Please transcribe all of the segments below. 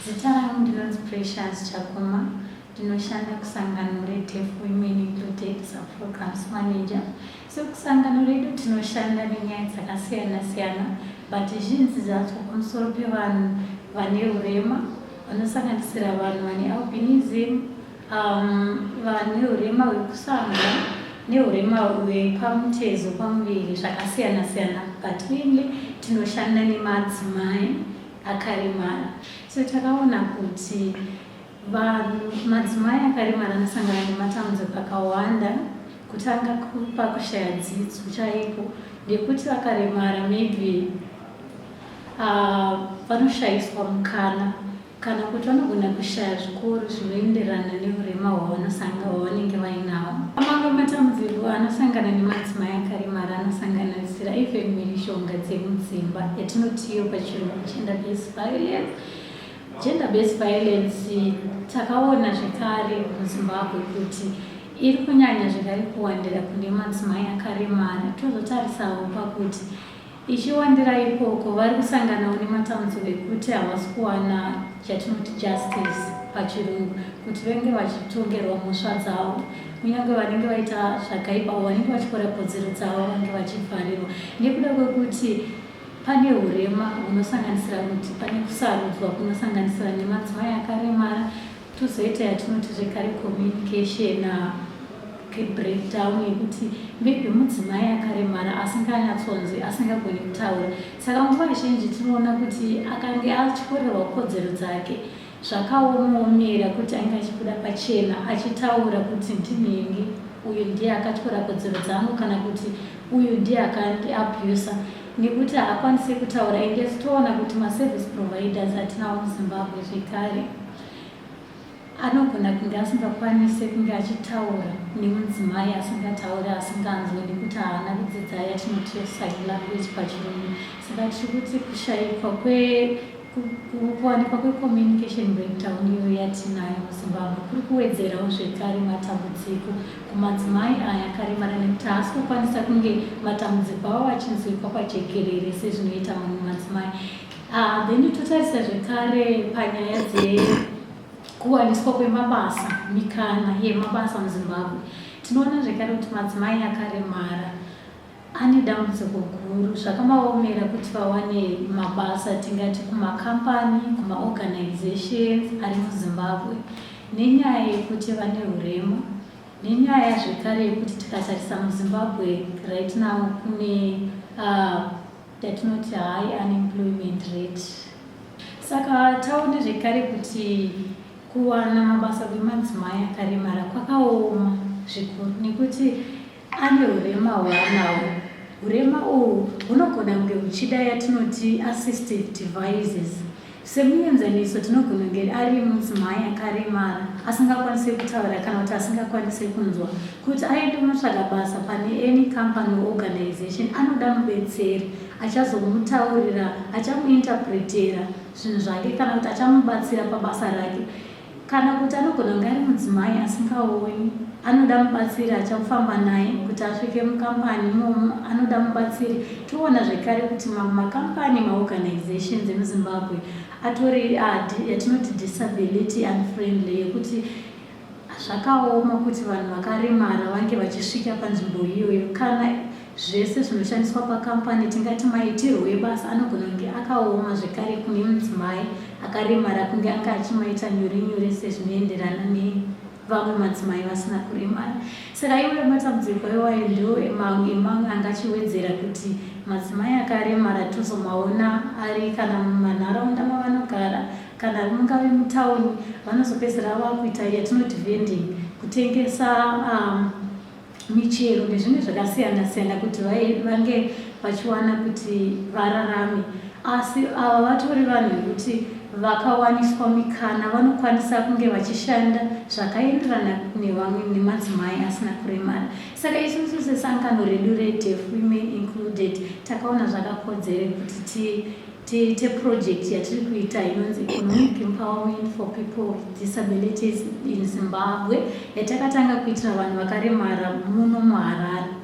Zita rangu ndinonzi Precious Chakuma ndinoshanda kusangano reDeaf Women Included Subprograms Manager. So kusangano redu tinoshanda nenyaya dzakasiyana siyana but zhinji dzacho pamusoro pevanhu vane urema vanosanganisira vanhu vane albinism, um, vane urema hwekusanga neurema hwepamutezo pamuviri zvakasiyana siyana but mainly tinoshanda nemadzimai akaremara so takaona kuti vanhu madzimai akaremara anosangana nematambudziko akawanda kutanga pakushaya dzidzo chaipo ngekuti vakaremara maybe uh, vanoshayiswa uh, mukana kana kuti vanogona kushaya zvikoro zvinoenderana neurema hwavanosanga hwavanenge vainawo amamwe matambudziko anosangana nemadzimai akaremara anosangana Zira ife mishonga dzemudzimba yatinotiyo pachirungu gender based violence gender based violence takaona zvekare muzimbabwe kuti iri kunyanya zvekare kuwandira kune madzimai akaremara tozotarisawo pakuti ichiwandira ikoko vari kusanganawo nematambudziko ekuti havasi kuwana chatinoti justice pachirungu kuti venge vachitongerwa mhosva dzavo kunyange vanenge vaita zvakaipa avo vanenge vachikora kodzero dzavo vange vachifarirwa nekuda kwekuti pane urema hunosanganisira kuti pane kusarudzwa kunosanganisira nemadzimai akaremara tozoita yatinoti zvekare communication ah, kebreakdown yekuti maybe mudzimai akaremara asinganyatsonzi asingagoni kutaura saka nguva zhinji tinoona kuti akange achikorerwa kodzero dzake Zvakaomaomera kuti ainge achibuda pachena achitaura kuti ndinhingi, uyu ndiye akatyora kodzero dzangu kana kuti uyu ndiye akandi abuser nekuti haakwanise kutaura ende toona kuti maservice providers atinawo muZimbabwe zvekare anogona kunge asingakwanise kunge achitaura nemudzimai asingataure asinganzwe nekuti haana kudzidza yatinoti sign language pachirungu saka tiri kuti kushaikwa kwe Kuwanikwa kwecommunication breakdown iyo yatinayo muZimbabwe kuri kuwedzerawo zvekare matambudziko kumadzimai aya akaremara nekuti haasi kukwanisa kunge matambudziko avo achinzwikwa pajekerere sezvinoita mamwe madzimai ah, then totarisa zvekare panyaya dzekuwaniswa kwemabasa mikana yemabasa muzimbabwe tinoona zvekare kuti madzimai akaremara Ane dambudziko guru, zvakamaomera kuti vawane mabasa tingati kumakambani, kumaorganizations ari muZimbabwe nenyaya yekuti vane hurema nenyaya zvekare yekuti tikatarisa muZimbabwe right now kune uh, yatinoti high unemployment rate. Saka taone zvekare kuti kuwana mabasa kwemadzimai akaremara kwakaoma zvikuru nekuti Ane hurema hwaanawo. Hurema uhwu hunogona kunge huchida yatinoti assistive devices. Semuenzaniso, tinogona kunge ari mudzimai akaremara asingakwanise kutaura kana kuti asingakwanise kunzwa. Kuti aende kunotsvaga basa pane any company or organization, anoda mubetseri achazomutaurira, achamuinterpretera zvinhu zvake kana kuti achamubatsira pabasa rake. Kana kuti anogona kunge ari mudzimai asingaoni, anoda mubatsiri achafamba naye kuti asvike mukambani imomo, anoda mubatsiri. Toona zvekare kuti mamwe makambani, maorganizations emuZimbabwe atori yatinoti disability unfriendly yekuti zvakaoma kuti vanhu vakaremara vange vachisvika panzvimbo iyoyo kana Zvese zvinoshandiswa pakambani tingati maitirwo ebasa anogona kunge akaoma zvekare kune mudzimai akaremara kunge anga achimaita nyore nyore sezvinoenderana nevamwe madzimai vasina kuremara. Saka iwayo matambudziko iwayo ndiwo emamwe emamwe angachiwedzera kuti madzimai akaremara tozomaona ari kana mumanharaunda mavanogara kana mungave mutauni vanozopedzera vakuita yatinoti vending kutengesa um, michero nezvimwe zvakasiyana siyana kuti vange vachiwana kuti vararame asi ava vatori vanhu vekuti vakawaniswa mikana vanokwanisa kunge vachishanda zvakaenderana nevamwe nemadzimai asina kuremara saka isusu sesangano redu redeaf women included takaona zvakakodzere kuti ti Tiite project yatiri kuita inonzi Economic Empowerment for People with Disabilities in Zimbabwe yatakatanga kuitira vanhu vakaremara muno muHarare.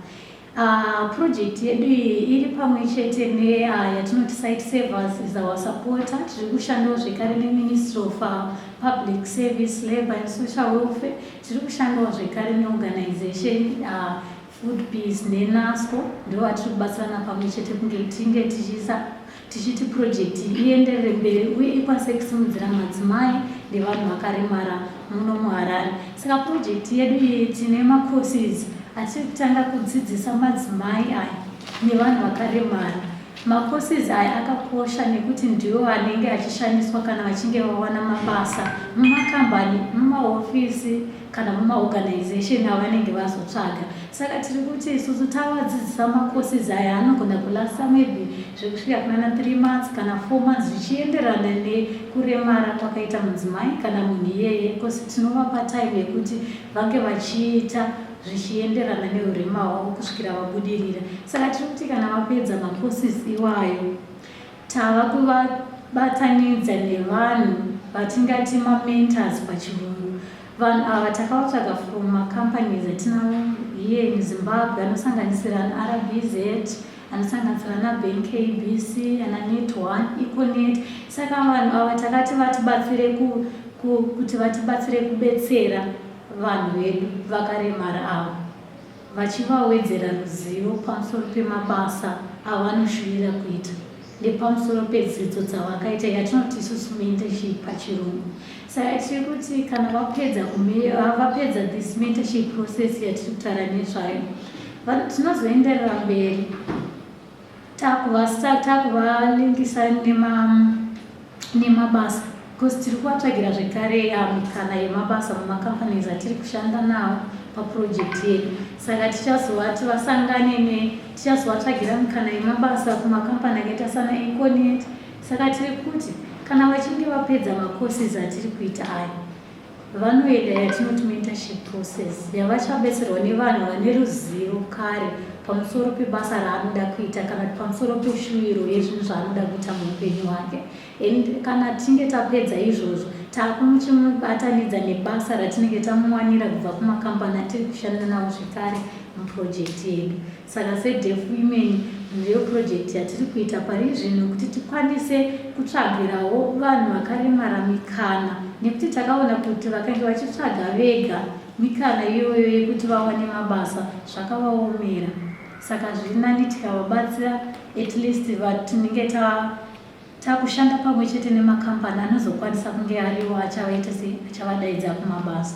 Uh, project yedu iyi iri pamwe chete ne uh, yatinoti site servers is our supporter tiri kushandawo zvekare neministry of uh, public service labour and social welfare tiri kushandawo zvekare neorganization uh, Food Peace neNASCO ndivo vatiri kubatsirana pamwe chete kunge tinge tichiisa tichiti purojekiti iyi ienderere mberi uye ikwanise kusimudzira madzimai nevanhu vakaremara muno muharare saka purojekiti yedu iyi tine macourses atiri kutanga kudzidzisa madzimai aya nevanhu vakaremara macourses aya akakosha nekuti ndiwo anenge achishandiswa kana vachinge vawana mabasa mumakambani mumahofisi kana mumaorganization avanenge vazotsvaga saka tiri kuti isusu tavadzidzisa macourses aya anogona kulasta maybe zvekusvika kunana three months kana four months zvichienderana nekuremara kwakaita mudzimai kana munhu iyeye bcause tinovapa time yekuti vange vachiita zvichienderana neurema hwavo kusvikira vabudirira saka tiri kuti kana vapedza macourses iwayo Tava kuvabatanidza nevanhu vatingati mamentors pachirungu. Vanhu ava takavatsvaga from macompanies atinawo here in Zimbabwe anosanganisira anaRBZ, anosanganisira anaBank ABC, anaNet One, Econet. Saka vanhu ava takati vatibatsire ku, ku, kuti vatibatsire kubetsera vanhu vedu vakaremara ava. vachivawedzera ruzivo pamusoro pemabasa avanoshuvira kuita nepamusoro pedzidzo dzavakaita yatinoti isusu mentorship pachirungu saka tiri kuti kana vapedza vapedza this mentorship process yatiri kutaura nezvayo tinozoenderera mberi takuvastar takuvalinkisa nema nemabasa because tiri kuvatsvagira zvekare mikana yemabasa mumacompanies atiri kushanda nawo paproject yedu saka tichazovati vasangane ne tichazovatsvagira mikana yemabasa kumacompany akaita sana econet saka tiri kuti kana vachinge vapedza macourses atiri kuita ayo vanoenda yatinoti mentorship process yavachabetserwa nevanhu vane ruzivo kare pamusoro pebasa raanoda kuita kana kuti pamusoro peshuviro yezvinhu zvaanoda kuita muupenyu hwake and kana tinge tapedza izvozvo taakumuchimubatanidza nebasa ratinenge tamuwanira kubva kumakambani atiri kushanda navo zvekare muprojekti yedu Saka seDeaf Women ndiyo project yatiri kuita pari zvino kuti tikwanise kutsvagirawo vanhu vakaremara mikana nekuti takaona kuti vakange vachitsvaga vega mikana iyoyo yekuti vawane mabasa zvakavaomera saka zviri nani tikavabatsira at least vatinenge ta takushanda pamwe chete nemakambani anozokwanisa kunge ariwo achavaita sei achavadaidza kumabasa